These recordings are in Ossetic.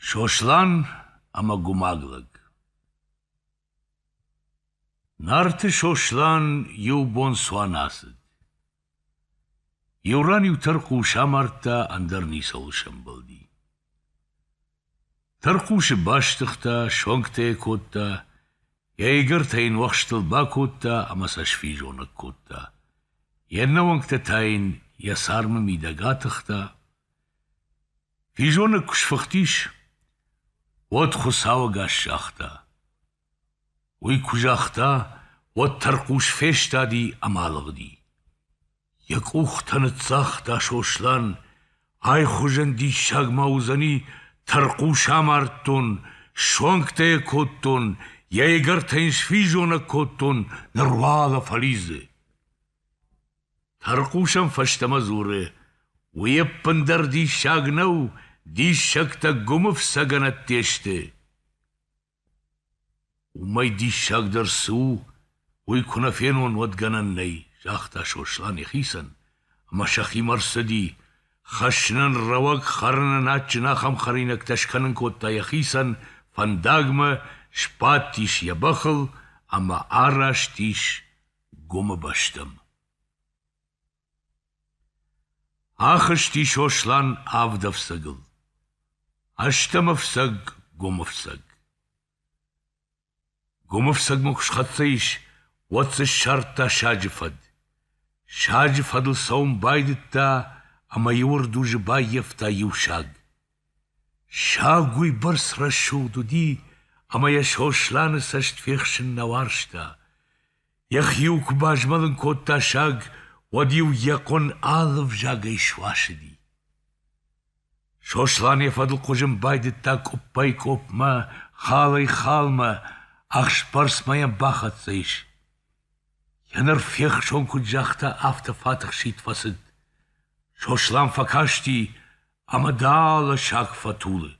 Сослан ӕмӕ гумаг лӕг Нарты Сослан иу бон цуан ацыд. Иу ран иу тӕрхъус амардта, ӕндӕр ницӕуыл сӕмбӕлди. Тӕрхъусы бастыгъта, суӕнгтӕ йӕ кодта, йӕ игӕртӕ йын уӕхстыл бакодта ӕмӕ сӕ сфизонӕг кодта. Йе ннӕуӕнгтӕ та йын йӕ цармы мидӕг атыхта, Физонӕг куы сфыхтис, уӕд Хуыцау ӕгас загъта. Уый куы загъта, уӕд тӕрхъус фестади ӕмӕ алыгъди. Йӕ къухтӕ ныццагъта Сослан, айхуызӕн диссаг ма уыдзӕни, тӕрхъус амардтон, суӕнгтӕ йӕ кодтон, йӕ ӕгӕртӕ йын сфизонӕг кодтон, ныруагъа фӕлидзы. Тӕрхъусӕн фӕстӕмӕ дзуры, Уый ӕппындӕр диссаг нӕу, диссӕгтӕ гуымы фцӕгӕнӕтте сты. Уымӕй диссагдӕр цы у, уый куы нӕ фенон, уӕд гӕнӕн нӕй, загъта Сослан йӕхицӕн, ӕмӕ сӕхимӕ рцыди. Хӕссынӕн рӕуӕг, хӕрынӕн адджын ахӕм хӕринӕгтӕ скӕнын кодта йӕхицӕн, фӕндагмӕ, сбадтис йӕ бӕхыл ӕмӕ араст ис Гуымы бӕстӕм. Ахызти Сослан авд ӕфцӕгыл. Ӕстӕм ӕфцӕг Гуымы фцӕг. Гуымы фцӕгмӕ куы схӕццӕ ис, уӕд дзы ссардта саджы фӕд. Саджы фӕдыл цӕуын байдыдта ӕмӕ иу ӕрдузы баййӕфта иу саг. Саг уыйбӕрц рӕсугъд уыди, ӕмӕ йӕ Сосланы цӕст фехсын нӕ уарзта. Йӕхиуыл куы базмӕлын кодта саг, уӕд-иу йӕ хъуын алы взагӕй суасыди. Сослан йӕ фӕдыл хъуызын байдыдта къуыппӕй-къуыпмӕ, халӕй-халмӕ, ӕхсбӕрцмӕ йӕм бахӕццӕ ис. Йӕ ныр фехсон куыд загъта, афтӕ фӕтыхсид фӕцыд. Сослан фӕкасти ӕмӕ дӕлӕ саг фӕтулы.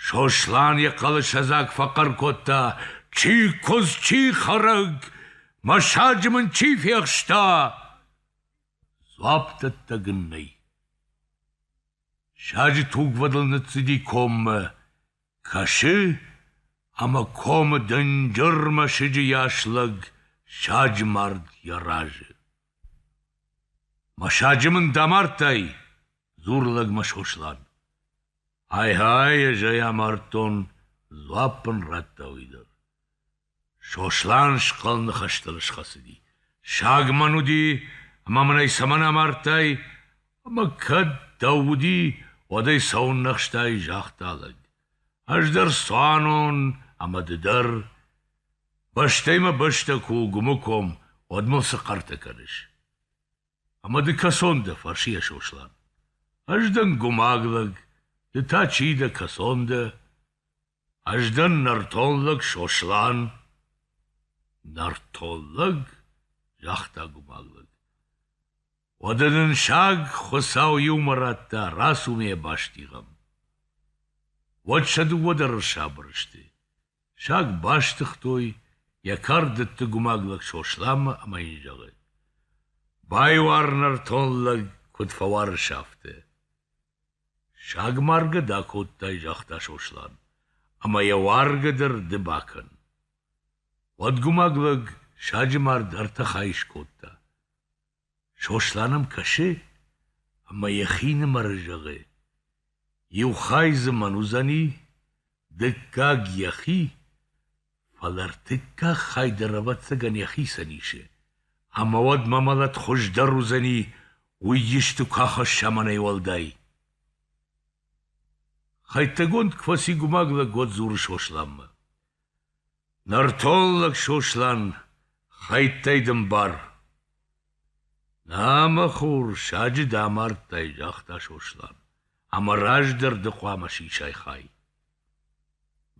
Сослан йӕ хъӕлӕсӕдзаг фӕхъӕр кодта: Чи куыдз, чи хӕрӕг, мӕ саджы мын чи фехста! Дзуапп дӕттӕг ын нӕй. Саджы тугвӕдыл ныццыди коммӕ, кӕсы, ӕмӕ комы дынджыр мӕсыджы йас лӕг саджы мард йӕ разы. — Мӕ саджы мын дӕ амардтай? — дзуры лӕгмӕ Сослан. — Ай-гьай, ӕз ӕй амардтон, дзуапп ын радта уый дӕр. Сослан схъӕлны хӕстӕл схӕцыди. Саг мӕн уыди, ӕмӕ мын ӕй цӕмӕн амардтай, ӕмӕ кӕд дӕу уыди, уӕд ӕй цӕуын ӕхстай, загъта лӕг. Ӕз дӕр цуанон ӕмӕ ды дӕр. Бӕстӕй мӕ бӕстӕ куы у Гуымы ком, уӕд мыл цы хъӕртӕ кӕныс? Ӕмӕ ды кӕцон дӕ? фӕрсы йӕ Сослан. Ӕз дӕн гуымаг лӕг, ды та чи дӕ, кӕцон дӕ? Ӕз дӕн нӕртон лӕг Сослан. Нӕртон лӕг? загъта гуымаг лӕг. Уӕдӕ нын саг Хуыцау иумӕ радта, рацу-ма йӕ бастигъӕм. Уӕд сӕ дыууӕ дӕр ӕрсабыр сты. Саг бастыгътой, йӕ кард дытты гумаг лӕг Сосланмӕ ӕмӕ йын зӕгъы: «Байуар нӕртон лӕг, куыд фӕуарыс, афтӕ». Саг маргӕ дӕ кодтай, загъта Сослан, ӕмӕ йӕ уаргӕ дӕр ды бакӕн. Уӕд гумаг лӕг саджы мард ӕртӕ хайы скодта. Сослан ӕм кӕсы ӕмӕ йӕхинымӕр зӕгъы: иу хай дзы мӕн уыдзӕни, дыккаг йӕхи, фӕлӕ ӕртыккаг хай дӕр, ӕвӕццӕгӕн, йӕхицӕн исы, ӕмӕ уӕд мӕ мӕлӕт хуыздӕр уыдзӕни, уый исты куы ахӕсса мӕнӕй уӕлдай. Хӕйттӕгонд квӕсигумаг лӕггад дзуры Сосланмӕ. Нӕртоллаг Сослан, хӕйттӕй дын бар. Нӕ, мӕ хур, саджы дӕ амардтай, загъта Сослан, ӕмӕ раздӕр ды хъуамӕ сисай хай.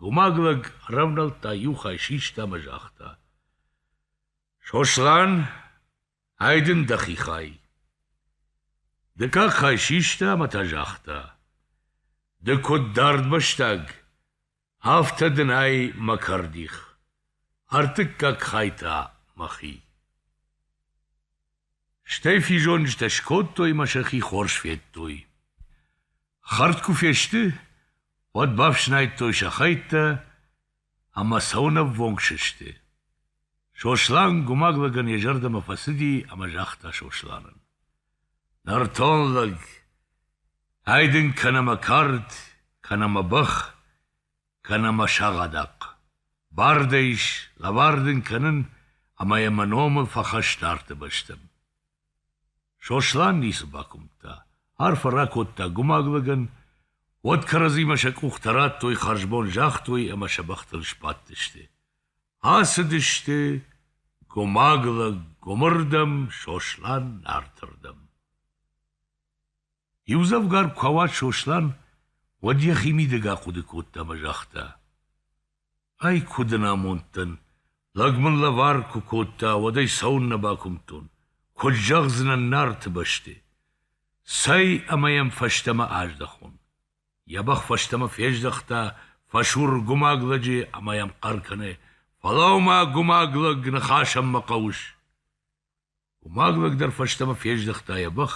Гумаг лӕг ӕрӕвнӕлдта иу хай систа ӕмӕ загъта. Сослан, ай дын дӕхи хай. Ды как хай систа ӕмӕ та загъта. Ды куыд дард бӕстаг, Афтӕ дын ӕй, мӕ кӕрдих, ӕртыккаг хай та мӕхи. Стӕй физонджытӕ скодтой мӕ сӕхи хорз федтой. Хӕрд куы фесты, уӕд бафснайдтой сӕ хӕйттӕ ӕмӕ сӕуынӕввонг сысты. Сослан гумаг лӕгӕн йӕ зӕрдӕмӕ фӕцыди ӕмӕ загъта Сосланӕн. — Нӕртон лӕг, Ай дын кӕнӕ мӕ кард, кӕнӕ мӕ бӕх, кӕнӕ мӕ сагъадахъ. Бар дӕ ис лӕвар дын кӕнын ӕмӕ йӕ мӕ номы фӕхӕсс нарты бӕстӕм. Сослан ницы бакуымдта, арфӕ ракодта гумаг лӕгӕн, уӕд кӕрӕдзимӕ сӕ къухтӕ радтой, хӕрзбон загътой ӕмӕ сӕ бӕхтыл сбадтысты. Ацыдысты гумаг лӕг гуымырдӕм, Сослан нарты рдӕм. Иудзӕвгар куы ауад Сослан, уӕд йӕхи мидӕгах хъуыды кодта ӕмӕ загъта: Ай куы дын амондтӕн, лӕг мын лӕвар куы кодта, уӕд ӕй цӕуыннӕ бакуымдтон, куыд зӕгъдзынӕн Нарты бӕсты? Цӕй ӕмӕ йӕм фӕстӕмӕ аздӕхон. Йӕ бӕх фӕстӕмӕ фездӕхта, фӕсур гумаг лӕджы ӕмӕ йӕм хъӕр кӕны: «Фӕлӕуу-ма, гумаг лӕг, ныхасӕн мӕ хъӕуыс!» Уымаг лӕг дӕр фӕстӕмӕ фездӕхта йӕ бӕх,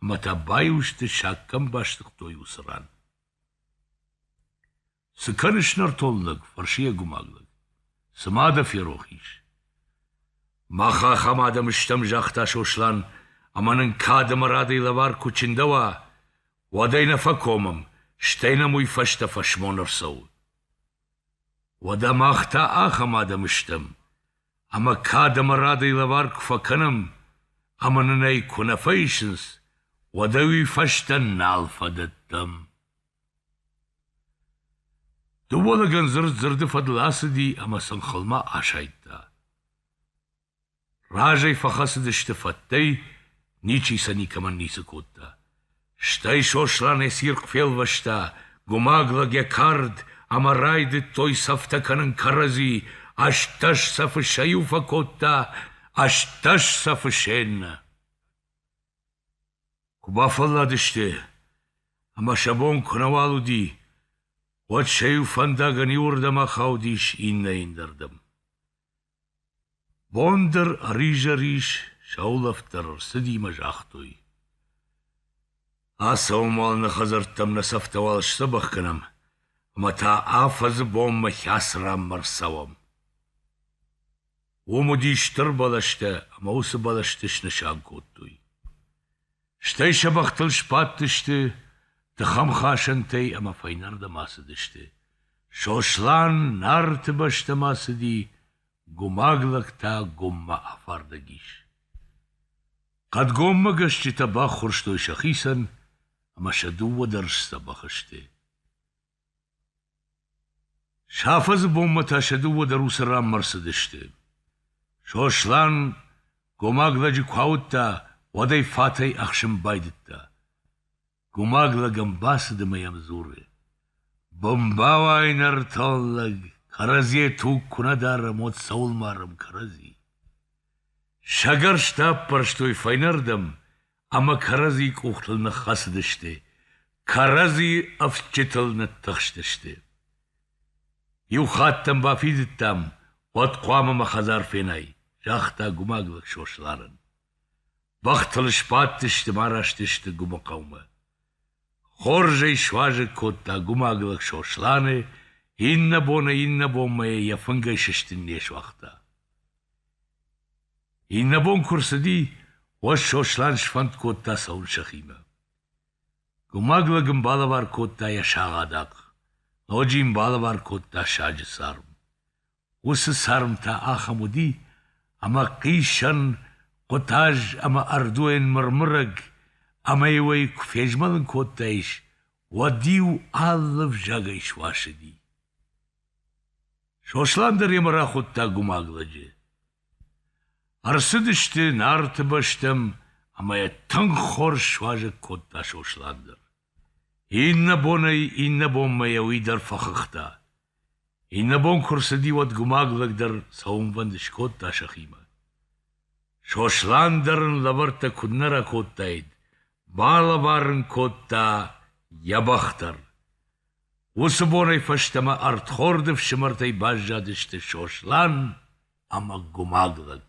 ӕмӕ та баиу сты, саккӕм бастыгътой уыцы ран. — Цы кӕныс, нӕртон лӕг? — фӕрсы йӕ гуымаг лӕг. — Цымӕ дӕ ферох ис? — Мах ахӕм адӕм стӕм, — загъта Сослан, — ӕмӕ нын кад ӕмӕ радӕй лӕвар куы чындӕуа, уӕд ӕй нӕ фӕкомӕм, стӕй нӕм уый фӕстӕ фӕсмон ӕрцӕуы. Уӕдӕ мах та ахӕм адӕм стӕм. ӕмӕ кад ӕмӕ радӕй лӕвар куы фӕкӕнӕм ӕмӕ нын ӕй куы нӕ фӕисынц, уӕд ӕви фӕстӕ нал фӕдӕттӕм. Дыууӕ лӕгӕн дзырд дзырды фӕдыл ацыди ӕмӕ сын хылмӕ асайдта. Разӕй фӕхӕцыдысты фӕттӕй, ничи сӕ никӕмӕн ницы кодта. Стӕй Сослан йӕ цирхъ фелвӕста, гумаг лӕг йӕ кард, ӕмӕ райдыдтой цӕфтӕ кӕнын кӕрӕдзи, ӕстдӕс цӕфы сӕ иу фӕкодта, ӕстдӕс цӕфы се ннӕ. Куы бафӕлладысты, ӕмӕ сӕ бон куынӕуал уыди, уӕд сӕ иу фӕндагӕн иуырдӕм ахаудис иннӕйы ӕндӕрдӕм. Бон дӕр ӕризӕрис, сӕ улӕфт дӕр ӕрцыди мӕ загътой: Ацӕуын-уал нӕ хӕдзӕрттӕм нӕ цӕфтӕ-уал сдзӕбӕх кӕнӕм, ӕмӕ та афӕдзы бонмӕ хӕцырӕммӕ ӕрцӕуӕм. Уым уыди стыр бӕлӕстӕ ӕмӕ уыцы бӕлӕсты снысан кодтой. Стӕй сӕ бӕхтыл сбадтысты тыхӕмхасӕнтӕй ӕмӕ фӕйнӕрдӕм ацыдысты. Сослан Нарты бӕстӕмӕ цыди, гумаг лӕгтӕ гоммӕ афардӕг ис. Хъӕдгоммӕ гӕсджытӕ баххуырстой сӕхицӕн, ӕмӕ сӕ дыууӕ дӕр сдзӕбӕх сты. Сафа-зы бонмӕ та сӕ дыууӕ дӕр уыцы ранмӕ рцыдысты. Сослан гомаг лӕджы куы ауыдта, уӕд ӕй фатӕй ӕхсын байдыдта. Гомаг лӕгӕн бацыд ӕмӕ йӕм дзуры: «Бомбауай, нӕртон лӕг, кӕрӕдзийӕ туг куы нӕ дарӕм, уӕд цӕуыл марӕм кӕрӕдзи?» Сӕгӕрстӕ аппӕрстой фӕйнӕрдӕм ӕмӕ кӕрӕдзийы къухтыл ныххӕцыдысты, кӕрӕдзи ӕфсджытыл ныттыхстысты. Иу хатт ӕм бафидыдтам, уӕд хъуамӕ мӕ хӕдзар фенай, загъта гумаглаг Сосланӕн. Бӕхтыл сбадтысты мӕ араст сты Гуымыхъӕумӕ. Хорз ӕй суазӕг кодта гумаглаг Сосланы, иннӕ бон ӕй иннӕ бонмӕ йӕ фынгӕй сыстын не суагъта. Иннӕбон куы рцыди, уӕд Сослан сфӕнд кодта цӕуын сӕхимӕ. Гумаг лӕг ын балӕвар кодта йӕ сагъадахъ, ноджы йын балӕвар кодта саджы царм. Уыцы царм та ахӕм уыди, ӕмӕ хъисӕн, хъуытаз ӕмӕ ӕрдуйӕн мырмырӕг, ӕмӕ-иу ӕй куы фезмӕлын кодтаис, уӕд-иу алы взагӕй суасыди. Сослан дӕр йемӕ рахуыдта гумаг лӕджы. Ӕрцыдысты Нарты бӕстӕм ӕмӕ йӕ тынг хорз суазӕг кодта Сослан дӕр. Иннӕ бонӕй иннӕ бонмӕ йӕ уый дӕр фӕхыгъта. Иннӕ бон куы рцыди, уӕд гумаг лӕг дӕр цӕуынвӕнд скодта сӕхимӕ. Сослан дӕр ын лӕвӕрттӕ куыннӕ ракодтаид, балӕвар ын кодта йӕ бӕх дӕр. Уыцы бонӕй фӕстӕмӕ ӕрдхорды фсымӕртӕй баззадысты Сослан ӕмӕ Гуымаг лӕг.